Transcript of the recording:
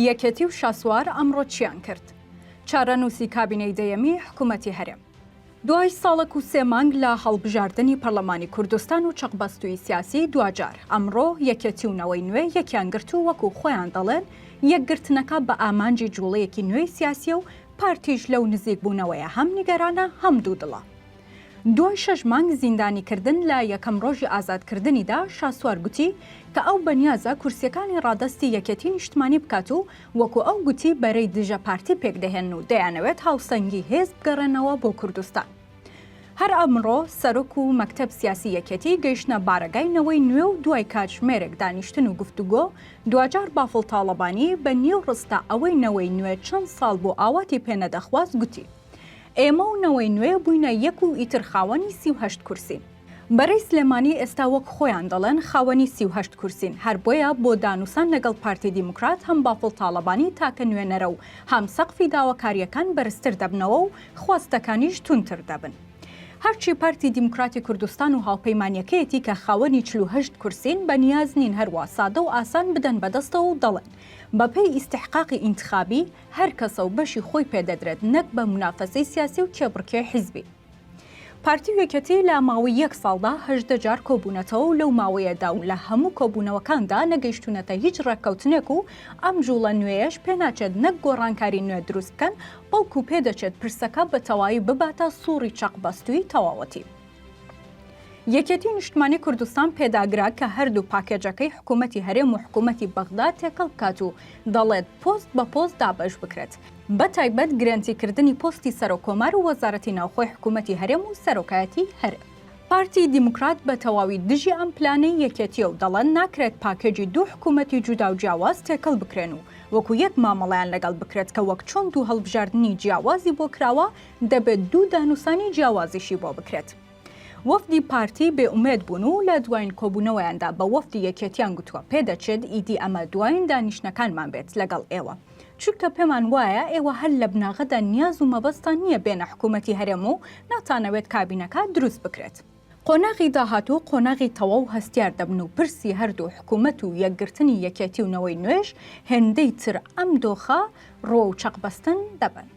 یەکێتی و شاسوار ئەمڕۆ چیان کرد؟ چارەنووسی کابینەی دەیەمی حکوومەتی هەرێم. دوای ساڵەک و سێ مانگ لە هەڵبژاردنی پەرلەمانی کوردستان و چەقبەستووی سیاسی، دواجار ئەمڕۆ یەکێتی و نەوەی نوێ یەکیان گرت و وەکو خۆیان دەڵێن، یەکگرتنەکە بە ئامانجی جووڵەیەکی نوێی سیاسییە و پارتیش لەو نزیکبوونەوەیە هەم نیگەرانە، هەم دوودڵە. دوای شەش مانگ زیندانیکردن لە یەکەم ڕۆژی ئازادکردنیدا شاسوار گوتی کە ئەو بەنیازە کورسیەکانی ڕادەستی یەکێتی نیشتمانی بکات و وەکو ئەو گوتی بەرەی دژە پارتی پێکدەهێنن و دەیانەوێت هاوسەنگی هێز بگەڕێنەوە بۆ کوردستان. هەر ئەمڕۆ سەرۆک و مەکتەب سیاسی یەکێتی گەیشتنە بارەگای نەوەی نوێ و دوای کاتژمێرێک دانیشتن و گفتوگۆ دواجار بافڵ تاڵەبانی بە نیو ڕستە ئەوەی نەوەی نوێ چەند ساڵ بوو ئاواتی پێنەدەخواست گوتی ئێمە و نەوەی نوێ بووینە یەک و ئیتر خاوەنی سی و هەشت کورسین. بەرەی سلێمانی ئێستا وەک خۆیان دەڵێن خاوەنی سی و هەشت کورسین، هەر بۆیە بۆ دانوسان لەگەڵ پارتی دیموکرات هەم بافڵ تاڵەبانی تاکە نوێنەرە و هەم سەقفی داواکارییەکان بەرزتر دەبنەوە و خواستەکانیش توندتر دەبن. هەرچی پارتی دیموکراتی کوردستان و هاوپەیمانیەکەیەتی کە خاوەنی چل و هەشت کورسین بە نیاز نین هەروا سادە و ئاسان بدەن بەدەستەوە و دەڵێن بەپێی ئیستحقاقی ئینتخابی هەر کەسە و بەشی خۆی پێ دەدرێت نەک بە منافەسەی سیاسی و کێبڕکێی حیزبی. پارتی و یەکێتی لە ماوەی یەک ساڵدا هەژدە جار کۆبوونەتەوە و لەو ماوەیەدا و لە هەموو کۆبوونەوەکاندا نەگەیشتوونەتە هیچ ڕێککەوتنێک و ئەم جووڵە نوێیەش پێ ناچێت نەک گۆڕانکاری نوێ دروست بکەن بەڵکوو پێ دەچێت پرسەکە بە تەوایی بباتە سووڕی چەقبەستووی تەواوەتی. یەکێتی نیشتمانی کوردستان پێداگرا کە هەردوو پاکێجەکەی حکوومەتی هەرێم و حکوومەتی بەغدا تێکەڵ بکات و دەڵێت پۆست بە پۆست دابەش بکرێت بە تایبەت گرێنتیکردنی پۆستی سەرۆک کۆمار و وەزارەتی ناوخۆی حکوومەتی هەرێم و سەرۆکایەتی هەرێم. پارتی دیموکرات بە تەواوی دژی ئەم پلانەی یەکێتییە و دەڵێن ناکرێت پاکێجی دوو حکوومەتی جودا و جیاواز تێکەڵ بکرێن و وەکو یەک مامەڵەیان لەگەڵ بکرێت کە وەک چۆن دوو هەڵبژاردنی جیاوازی بۆ کراوە دەبێت دوو دانوسانی جیاوازیشی بۆ بکرێت. وەفدی پارتی بێ ئومێد بوون و لە دواین کۆبوونەوەیاندا بە وەفدی یەکێتیان گوتووە پێدەچێت ئیدی ئەمە دواین دانیشتنەکانمان بێت لەگەڵ ئێوە، چونکە پێمان وایە ئێوە هەر لە بناغەدا نیاز و مەبەستتان نییە بێنە حکوومەتی هەرێم و ناتانەوێت کابینەکە دروست بکرێت. قۆناغی داهاتوو قۆناغی تەواو هەستیار دەبن و پرسی هەردوو حکوومەت و یەکگرتنی یەکێتی و نەوەی نوێش هێندەی تر ئەم دۆخە ڕوە و چەقبەستن دەبن.